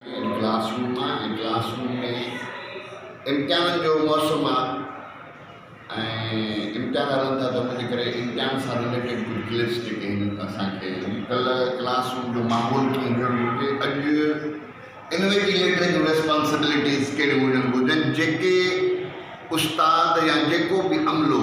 هي classroom آ ۽ classroom ۾ امتحانن جو موسم آ ۽ امتحان هلن ٿا ته ان جي ڪري امتحان سان رليٽيڊ ڪجهه ڪلپس جيڪي آهن اسان کي ڪلهه ڪلاس روم جو ماحول ڪيئن هجڻ گهرجي اڄ انويجيليٽر جون ريسپانسبلٽيز ڪهڙيون هجڻ گهرجن جيڪي استاد يا جيڪو به عملو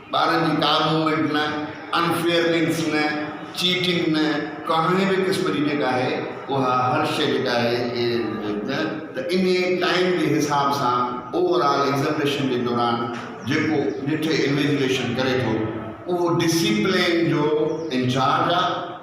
ٻارن جي ڪا موومينٽ نه، ان فيئرنيس نه، چيٽنگ نه، ڪهني به قسم جي جيڪا آهي اها هر شيء جيڪا آهي نه ته انهي ٽائيم جي حساب سان اوور آل ايگزامينيشن جي دوران جيڪو ڏٺي انويجليشن ڪري ٿو اهو ڊسيپلين جو انچارج آ.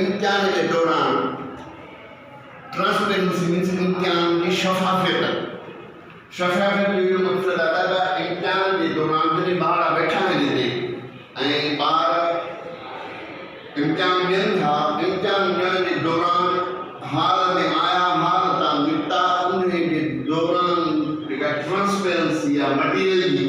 امتحان جي دوران ٽرانسپيرنسي مينس امتحان جي شفافيت شفافيت جو اهو مقصد آهي ته امتحان جي دوران جڏهن ٻار ويٺا آهن هتي ۽ ٻار امتحان ڏين ٿا امتحان ڏيڻ جي دوران هال ۾ آيا هال تان نڪتا ان جي دوران جيڪا ٽرانسپيرنسي آهي مٽيريل جي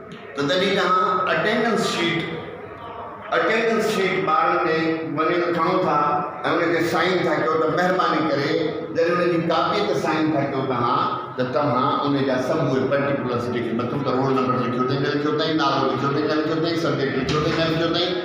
ته تڏهن توهان اٽينڊنس شيٽ Attendance Sheet ٻارن ڏي وڃي ته کڻو ٿا ۽ ان تي سائين ٿا ڪيو ته مهرباني ڪري جڏهن ان جي ڪاپيء تي سائين ٿا ڪيو توهان ته توهان ان جا سڀ اهي Particulars جيڪي مٿو ته رول نمبر لکيو اٿئي نه لکيو اٿئي نالو لکيو اٿئي نه لکيو اٿئي سبجيڪٽ لکيو اٿئي نه لکيو اٿئي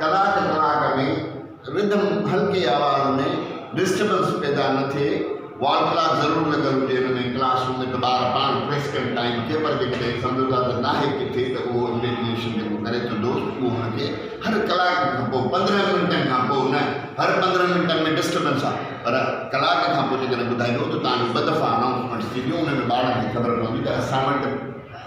ڪلاڪ ڪلاڪ ۾ رڌم هلڪي آواز ۾ ڊسٽربنس پيدا نه ٿئي وال ڪلاڪ ضرور لڳل هجي ان ۾ ڪلاس روم ۾ ته ٻار پاڻ پريس ڪري ٽائيم ڪيپر جي ڪري سمجهو ٿا ته ناهي ڪٿي ته اهو اميجنيشن جيڪو ڪري ٿو دوست اهو هن کي هر ڪلاڪ کان پوء پندرهن منٽن کان پوء نه هر پندرهن منٽن ۾ ڊسٽربنس آهي پر ڪلاڪ کان پوء جيڪڏهن ٻڌائبو ته تانجو ٻه دفعا انائونسمينٽس ٿينديون ان ۾ ٻارن کي خبر پوندي ته اسائنمينٽ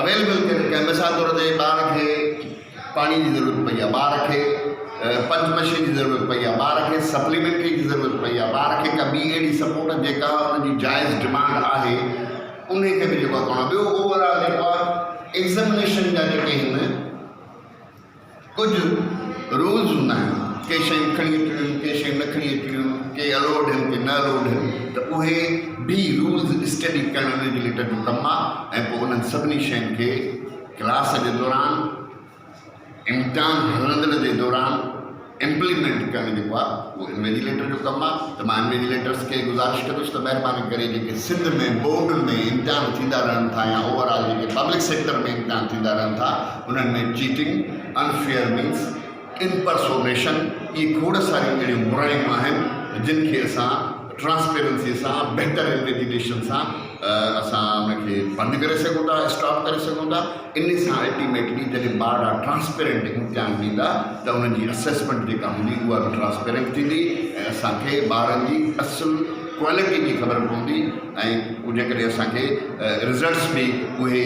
اويليبل ڪري رکيا مثال طور تي ٻار کي پاڻي جي ضرورت پئي آهي ٻار کي پنچ مشين جي ضرورت پئي آهي ٻار کي سپليمينٽري جي ضرورت پئي آهي ٻار کي ڪا ٻي اهڙي سپورٽ جيڪا ان جي جائز ڊمانڊ آهي ان کي به جيڪو ٻيو اوور آل جيڪو آهي ايگزامينيشن جا جيڪي هن ڪجهه رولز هوندا آهن ڪي شيون کڻي اچڻيون ڪي شيون نه کڻي اچڻيون ڪي الوڊ آهن ڪي نه الوڊ آهن ته اهي به رولز اسٽڊي ڪرڻ انهن جي لٽ جو ڪم آهي ۽ پوء انهن سڀني شين کي ڪلاس جي دوران امتحان هلندڙ جي دوران امپليمينٽ ڪرڻ جيڪو آ اهو انويجليٽر جو ڪم آ ته مان انويجليٽرس کي گذارش ڪندس ته مهرباني ڪري جيڪي سنڌ ۾ بورڊ ۾ امتحان ٿيندا رهن ٿا يا اوور آل جيڪي پبلڪ سيڪٽر ۾ امتحان ٿيندا رهن ٿا انهن ۾ چيٽنگ انفيئر مينس امپرسونيشن اهي کوڙ ساريون اهڙيون برائيون آهن جن کي اسان ٽرانسپيرنسي سان بهتر انويگيٽيشن سان اسان ان کي بند ڪري سگهون ٿا اسٽاپ ڪري سگهون ٿا ان سان الٽيميٽلي جڏهن ٻارڙا ٽرانسپيرنٽ امتحان ڏيندا ته انهن جي اسيسمينٽ جيڪا هوندي اها به ٽرانسپيرنٽ ٿيندي ۽ اسان کي ٻارن جي اصل ڪوالٽي جي خبر پوندي ۽ جيڪڏهن اسان کي رزلٽس به اهي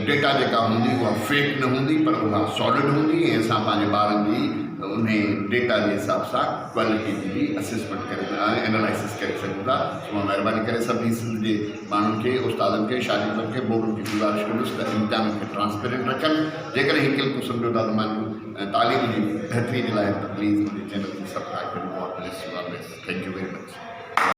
ڊيٽا جيڪا هوندي اها فيڪ نه هوندي پر اها سالڊ هوندي ۽ اسان پنهنجي ٻارن جي ان ڊيٽا جي حساب سان ڪوالٽي جي به اسيسمينٽ ڪري سگهندا ۽ انالائسس ڪري سگهون ٿا توهان مهرباني ڪري سڀني سنڌ جي ماڻهن کي استادن کي شاگردن کي بورڊن کي گذارش ڪندس ته امتحانن کي ٽرانسپيرنٽ رکن جيڪڏهن هڪ ڪلڪ ۾ سمجهو ٿا ته مانجو تعليم جي بهتري جي لاء ته پليز منهنجي چينل کي سبڪرائب ڪريو God bless you always thank you very much.